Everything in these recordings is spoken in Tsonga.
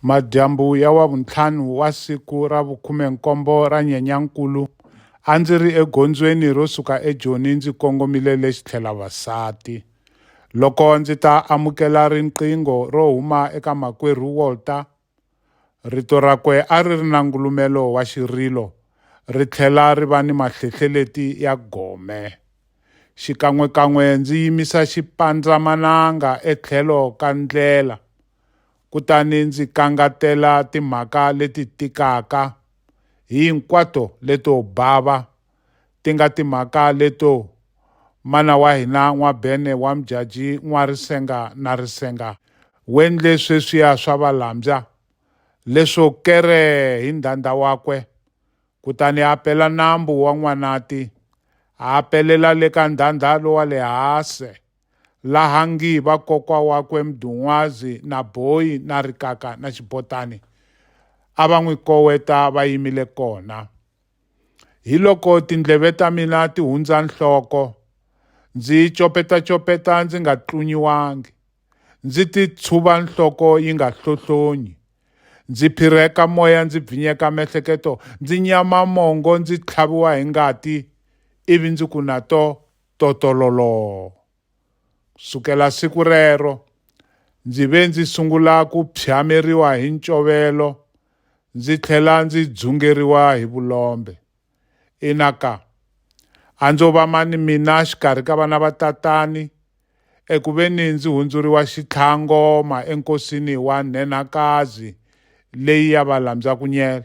Madyambu ya Wavuntlhanu wa siku ra vukhume-nkombo ra Nyenyankulu, a ndzi ri egondzweni ro suka eJoni ndzi kongomile le Xitlhelavasati. Loko ndzi ta amukela riqingho ro huma eka Makwerhu Walter, rito rakwe a ri ri na ngulumelo wa xirilo ri tlhela ri va ni mahlehlereti ya gome. Xikan'we-kan'we ndzi yimisa xipandzamananga etlhelo ka ndlela. kutani ndzi kangatela timhaka leti tikaka hinkwato leto bava, ti nga timhaka leto mana wa hina N'wabene wa Mjaji n'wa risenga na risenga, wendle sweswiya swa valambya leswo kere hi ndhandha wakwe, kutani a pela nambu wa N'wanati, a pelela le ka ndhandha lowa le hase. laha ngi va kokwa wakwe Mdun'wazi na Boyi na Rikaka na Xibotani a va n'wi koweta va yimile kona. Hi loko tindleve ta mina ti hundza nhloko, ndzi yi copeta-copeta ndzi nga tlunyiwangi, ndzi ti tshuva nhloko yi nga hlohlonyi, ndzi phirheka moya ndzi bvinyeka mehleketo, ndzi nyama mongo ndzi tlhaviwa hi ngati, ivi ndzi ku na to, totololoo. Sukela siku rero, ndzi ve ndzi sungula ku phyameriwa hi ncovelo ndzi tlhela ndzi dzungeriwa hi vulombe. Ina ka, a ndzo va mani mina xikarhi ka vana va tatani eku ve ni ndzi hundzuriwa xitlhangoma enkosini wa nhenhakazi leyi ya valambyak'unyela.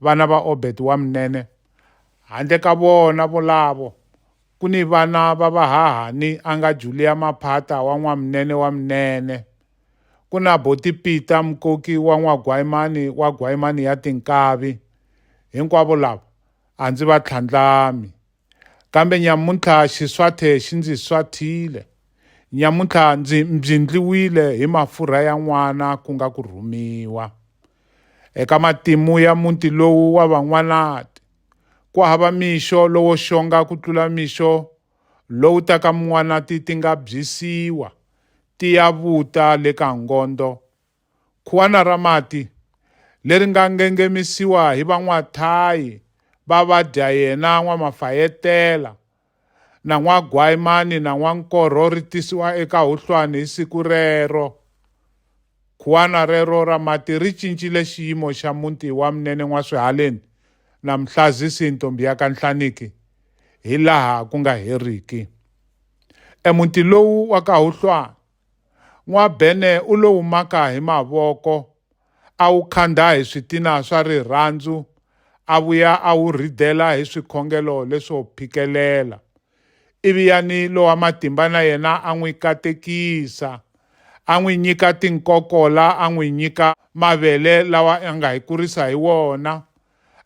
Vana va Obed wa Mnene. Handle ka vona volavo, ku ni vana va vahahani a nga Julia Maphata wa n'wamnene wa Mnene. Ku na Boti Pita Mkoki wa n'wagwayimani wa gwayimani ya tinkavi. Hinkwavo lava a ndzi va tlhandlami. Kambe nyamuntlha xiswathe xi ndzi swathile. Nyamuntlha ndzi mbyindliwile hi mafurha ya n'wana ku nga ku rhumiwa. Eka matimu ya muti lowu wa van'wanati, ku hava mixo lowo xonga ku tlula mixo lowu taka mun'wanati ti nga byisiwa, ti ya vuta le ka ngondo, khuwana ra mati leri nga ngengemisiwa hi van'waThayi va vadya yena n'wamafayetela na n'wagwayimani na n'wankorho ri tisiwa eka huhlwani hi siku rero. Khuwana rero ra mati ri cincile xiyimo xa muti wa Mnene N'waswihaleni na Mhlazisi Ntombi ya ka Nhlaniki hi laha ku nga heriki. Emuti lowu wa ka Huhlwani N'wabene u lo wu maka hi mavoko, a wu khandha hi switina swa rirhandzu, a vuya a wu rhidela hi swikhongelo leswo phikelela. Ivi Yani lowa matimba na yena a n'wi katekisa, a n'wi nyika tinkokola, a n'wi nyika mavele lawa a nga hi kurisa hi wona,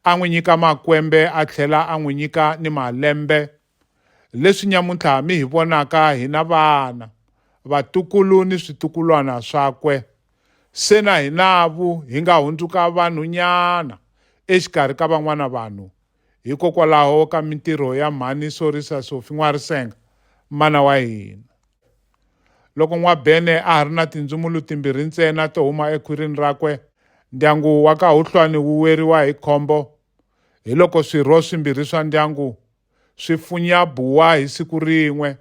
a n'wi nyika makwembe a tlhela a n'wi nyika ni malembe. Leswi nyamuntlha mi hi vonaka hi na vana, vatukulu ni switukulwana swakwe, se na hinavu hi nga hundzuka vanhunyana exikarhi ka van'wana vanhu, hikokwalaho ka mintirho ya Mhani Sorisa Sofi N'warisenga, mana wa hina. Loko N'wabene a ha ri na tindzumulu timbirhi ntsena to huma ekhwirini rakwe, ndyangu wa ka Huhlwani wu weriwa hi khombo hiloko swirho swimbirhi swa ndyangu Swifunyabua hi siku rin'we.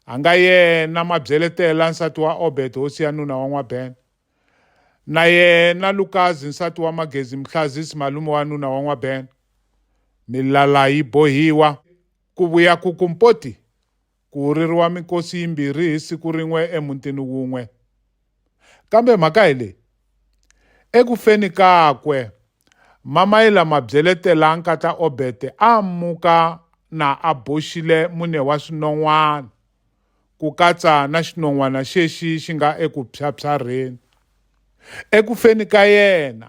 A nga yena Mabyeletela nsati wa Obed hosi ya nuna wa N'wabena. Na yena Lukazi nsati wa Magezi Mhlazisi malume wa nuna wa N'wabena. Milala yi bohiwa. Ku vuya ku ku mpoti. Ku ririwa mikosi yimbirhi hi siku rin'we emutini wun'we. Kambe mhaka hi leyi, eku feni kakwe, Mamaila Mabyeletela nkatla Obete a muka na a boxile mune wa swinon'wana, ku katsa na xinon'wana xexi xi nga eku phyaphyarheni. Eku feni ka yena,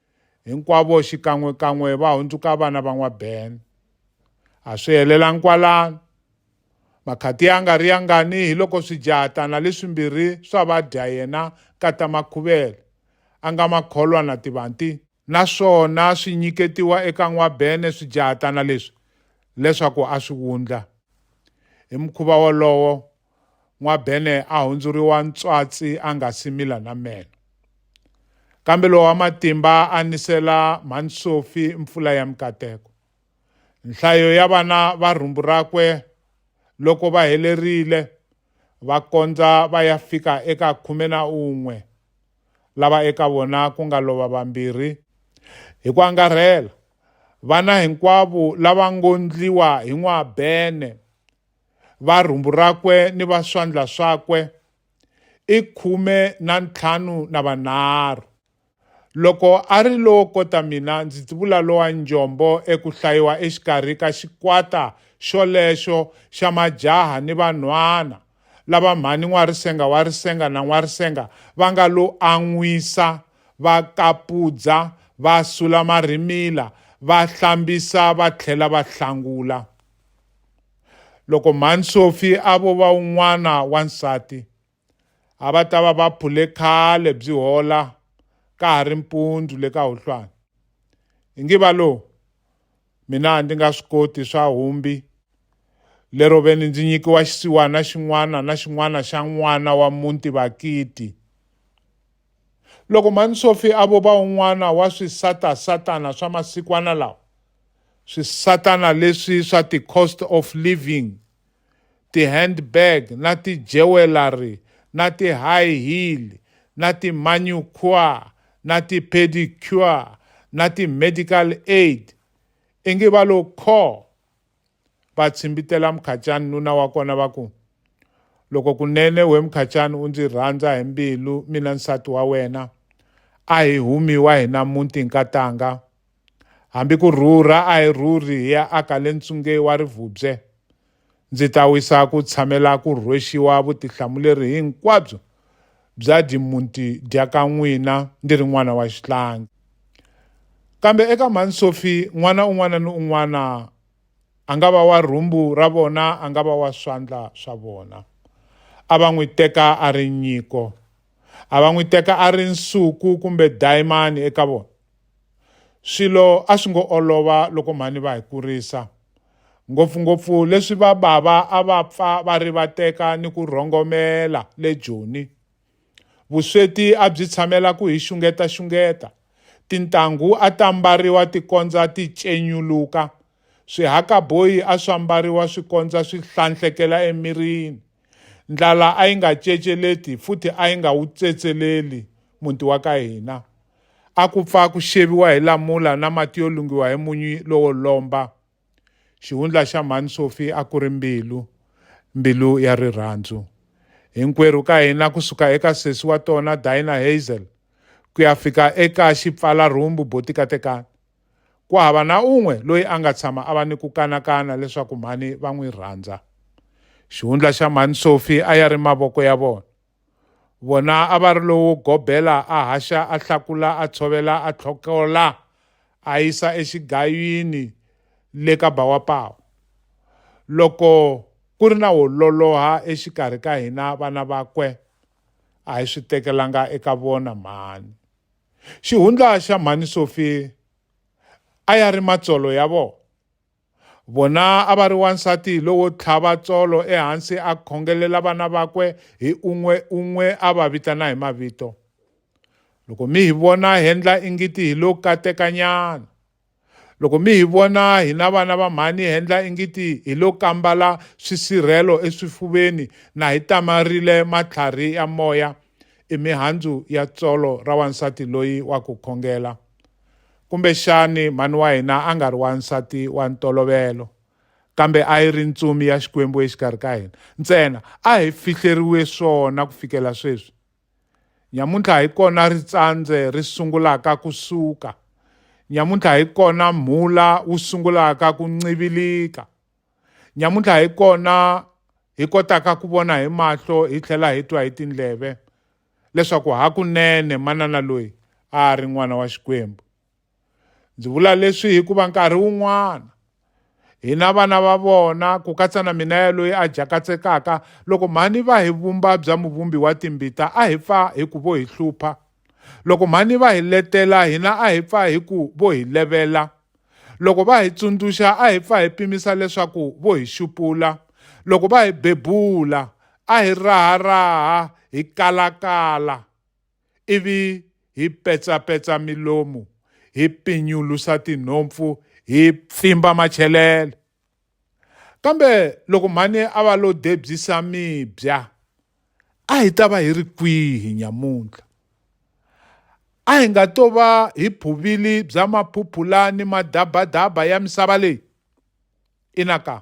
Hinkwavo xikan'we-kan'we va hundzuka vana va n'wa-Ben. A swi helelangi kwalano. Makhati ya nga ri yangani hi loko swijahatana leswimbirhi swa va dya yena nkata makhuvele, a nga ma kholwa na tivanti, naswona swi nyiketiwa eka n'wa-Ben swijahatana leswi leswaku a swi wundla, hi mukhuva wolowo, N'wabene a hundzuriwa ntswatsi a nga si mila na meno. Kambe lowa wa matimba a nisela mhani Sofi mpfula ya mikateko. Nhlayo ya vana va rhumbu rakwe loko va helerile va kondza va ya fika eka khume na un'we, lava eka vona ku nga lova vambirhi. Hi ku angarhela, vana hinkwavo lava ngo ndliwa hi N'wabene va rhumbu rakwe ni va swandla swakwe i khume na ntlhanu na vanharhu loko a ri lowo kota mina ndzi tivula lowa njombo eku hlayiwa exikarhi ka xikwata xolexo xa majaha ni vanhwana lava mhani n'warisenga wa risenga na n'warisenga va nga lo an'wisa va kapudza va sula marimila va hlambisa va tlhela va hlangula loko mhani sofi a vo va un'wana wa nsati a va ta va va phule khale byi hola ka ha ri mpundzu le ka huhlwana hi ngi va lowu mina a ndzi nga swi koti swa humbi lero ve ni ndzi nyikiwa xisiwana xin'wana na xin'wana xa n'wana wa muti vakiti Loko mhani Sophie a vova un'wana wa swisata-satana swa masikwana lawa, swisatana leswi swa ti-cost of living, ti-handbag na ti-jewellery na ti-high heel na ti-manucure na ti-pedicure na ti-medical aid, ingi va lo khoo. va tshimbitela Mukhacani nuna wa kona va ku, Loko kunene we Mukhacani u ndzi rhandza hi mbilu mina nsati wa wena, a hi humiwa hina muti nkatanga. Hambi ku rhurha a hi rhurhi hi ya aka le ntsungei wa rivubye. Ndzi ta wisa ku tshamela ku rhwexiwa vutihlamuleri hinkwabyo byadi muti dya ka n'wina ndi ri n'wana wa xihlangi kambe eka mhani sofi n'wana un'wana ni un'wana a nga va wa rhumbu ra vona a nga va wa swandla swa vona a va n'wi teka a ri nyiko a va n'wi teka a ri nsuku kumbe dayimani eka vona Swilo a swi ngo olova loko mhani va hi kurisa, ngopfu-ngopfu leswi va bava a va pfa va rivateka ni ku rhongomela le Joni. Vusweti a byi tshamela ku hi xungeta-xungeta, tintangu a ta mbariwa ti kondza ti cenyuluka Swihakaboyi a swa mbariwa swi kondza swi hlanhlekela emirini. Ndlala a yi nga ceceleti futhi a yi nga wu tsetseleli muti wa ka hina. A ku pfa ku xeviwa hi lamula na mati yo lunghiwa hi munyu lowo lomba. Xihundla xa Mhani Sophie a ku ri mbilu, mbilu ya rirhandzu. Hinkwerhu ka hina ku suka eka sesi wa tona Dinah Hazel ku ya fika eka xipfala-rhumbu Botikatekani, Ku hava na un'we loyi a nga tshama a va ni ku kanakana leswaku mhani va n'wi rhandza. Xihundla xa mhani Sophie a ya ri mavoko ya vona. Vona a va ri lowo gobela a haxa a hlakula a tshovela a tlhokola a yisa exigayini le ka ba wa pawa. Loko ku ri na wo loloha exikarhi ka hina vana vakwe a hi swi tekelanga eka vona mhani. xihundla xa mhani Sophie a ya ri matsolo ya vona vona a va ri wansati lowo tlhava tsolo ehansi a khongelela vana vakwe hi un'we un'we a va vitana hi mavito loko mi hi vona hendla ingiti hi lo katekanyana Loko mi hi vona hina vana va mhani hi endla ingiti hi lo kambala swisirhelo eswifuveni na hi tamarile matlharhi ya moya, i mihandzu ya tsolo ra wansati loyi wa ku khongela. Kumbexani mhani wa hina a nga ri wansati wa ntolovelo, kambe a yi ri ntsumi ya Xikwembu exikarhi ka hina. Ntsena a hi fihleriwe swona ku fikela sweswi. Nyamuntlha hi kona ritsandze ri sungulaka ku suka. Nyamuntlha hi kona mhula wu sungulaka ku ncivilika. Nyamuntlha hi kona hi kotaka ku vona hi mahlo hi tlhela hi twa hi tindleve leswaku hakunene manana loyi a a ri n'wana wa Xikwembu. ndzi vula leswi hikuva nkarhi wun'wana hina vana va vona ku katsa na mina yaloyi a jakatsekaka loko mhani va hi vumba bya muvumbi wa timbita a hi pfa hi ku vo hi hlupha loko mhani va hi letela hina a hi pfa hi ku vo hi levela loko va hi tsundzuxa a hi pfa hi pimisa leswaku vo hi xupula loko va hi bebula a hi raharaha hi kalakala ivi hi petsapetsa milomu hi pinyulusa tinhompfu hi pfimba machelele kambe loko mhani a va lo debyisa mibya a hi ta va hi ri kwihi nyamuntlha a hi nga to va hi phuvili bya maphuphula ni madabadaba ya misava leyi ina ka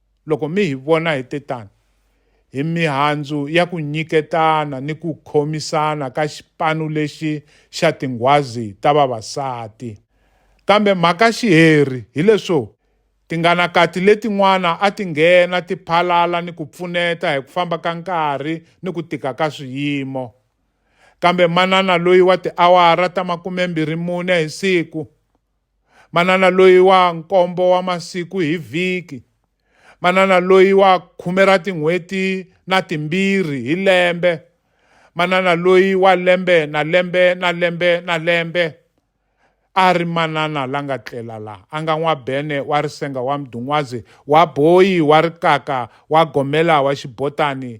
Loko mi hi vona hi te tano, hi mihandzu ya ku nyiketana ni ku khomisana ka xipanu lexi xa tinghwazi ta vavasati. Kambe mhaka-xiheri hi leswo, tinganakati letin'wana a ti nghena ti phalala ni ku pfuneta hi ku famba ka nkarhi ni ku tika ka swiyimo. Kambe manana loyi wa tiawara ta makume-mbirhi-mune hi siku, manana loyi wa nkombo wa masiku hi vhiki manana loyi wa khume ra tin'hweti na timbirhi hi lembe manana loyi wa lembe na lembe na lembe na lembe a ri manana la nga tlela la a nga n'wabene wa risenga wa mdun'wazi wa boyi wa rikaka wa gomela wa xibotani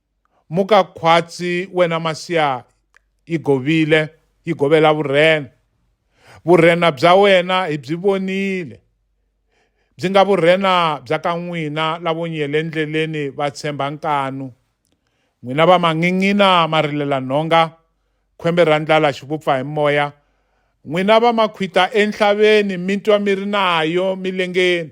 Muka khwatsi wena Masiya yi govile yi govela vurhena vurhena bya wena hi byi vonile byi nga vurhena bya ka n'wina lavo nyele ndleleni va tshemba nkanu n'wina va mangin'ina ma rilela nhonga khwembe ra ndlala xi vupfa hi moya n'wina va makhwita enhlaveni mi twa mi ri nayo milengeni